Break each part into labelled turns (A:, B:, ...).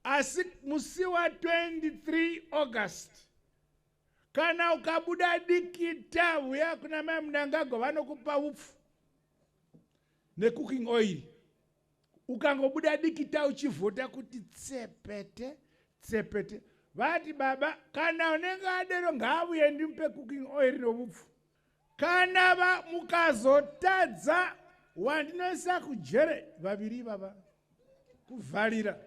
A: asi musi wa 23 august kana ukabuda dikita uya kuna mai munangagwa vanokupa upfu necooking oil ukangobuda dikita uchivhota kuti tsepete tsepete vati baba kana unenge adero ngaavuye ndimupe cooking oil novupfu kana va mukazotadza wandinoisa kujere vaviri ivava kuvharira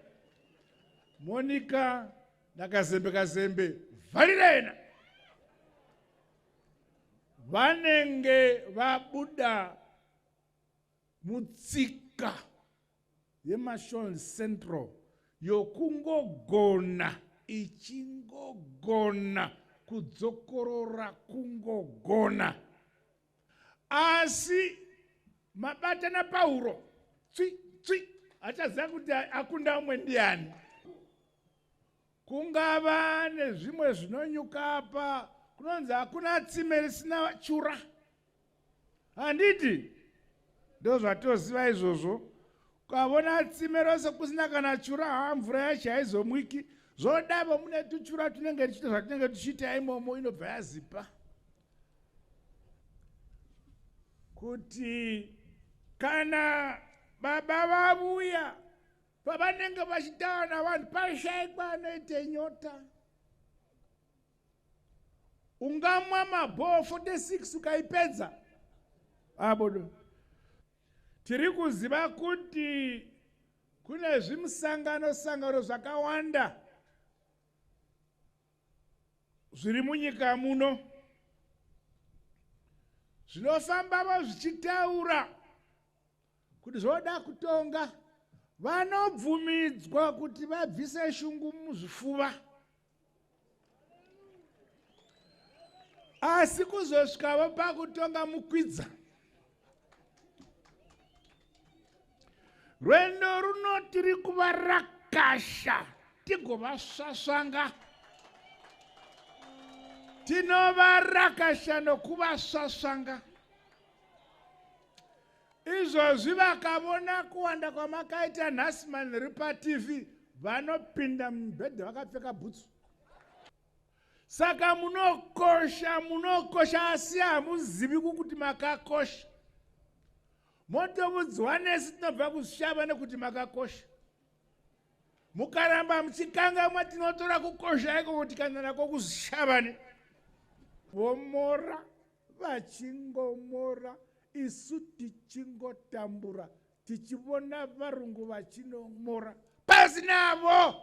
A: monika nakazembe kazembe vharira yena vanenge vabuda mutsika yeMashon Central yokungogona ichingogona kudzokorora kungogona asi mabata napauro tswi tswi achaziva kuti akunda umwe ndiani Kungava nezvimwe zvinonyuka apa kunonzi hakuna tsime risina chura handiti ndozvatoziva izvozvo ukavona tsime rose kusina kana chura haa mvura yacho haizomwiki zvodavo mune tuchura tunenge tichiita zvatinenge tichiita imomo inobva yazipa kuti kana baba vavuya pavanenge vachitaura navanhu pashaikwa anoite nyota ungamwa mabhoo 46 ukaipedza abodo ah, tiri kuziva kuti kune zvimusangano sangano zvakawanda zviri munyika muno zvinofambavo zvichitaura kuti zvoda kutonga vanobvumidzwa kuti vabvise shungu muzvifuva asi kuzosvikavo pakutonga mukwidza rwendo runo tiri kuva rakasha tigovasvasvanga tinova rakasha nokuvasvasvanga izvozvi vakavona kuwanda kwamakaita nhasi manhiri patv vanopinda mubhedhe vakapfeka bhutsu saka munokosha munokosha asi hamuzivi kukuti makakosha motovudzwa nesi tinobva kushava nekuti makakosha mukaramba muchikangamwa tinotora kukosha iko kuti kana nako kushavane vomora Vachingomora isu tichingotambura tichivona varungu vachino mora pasi navo.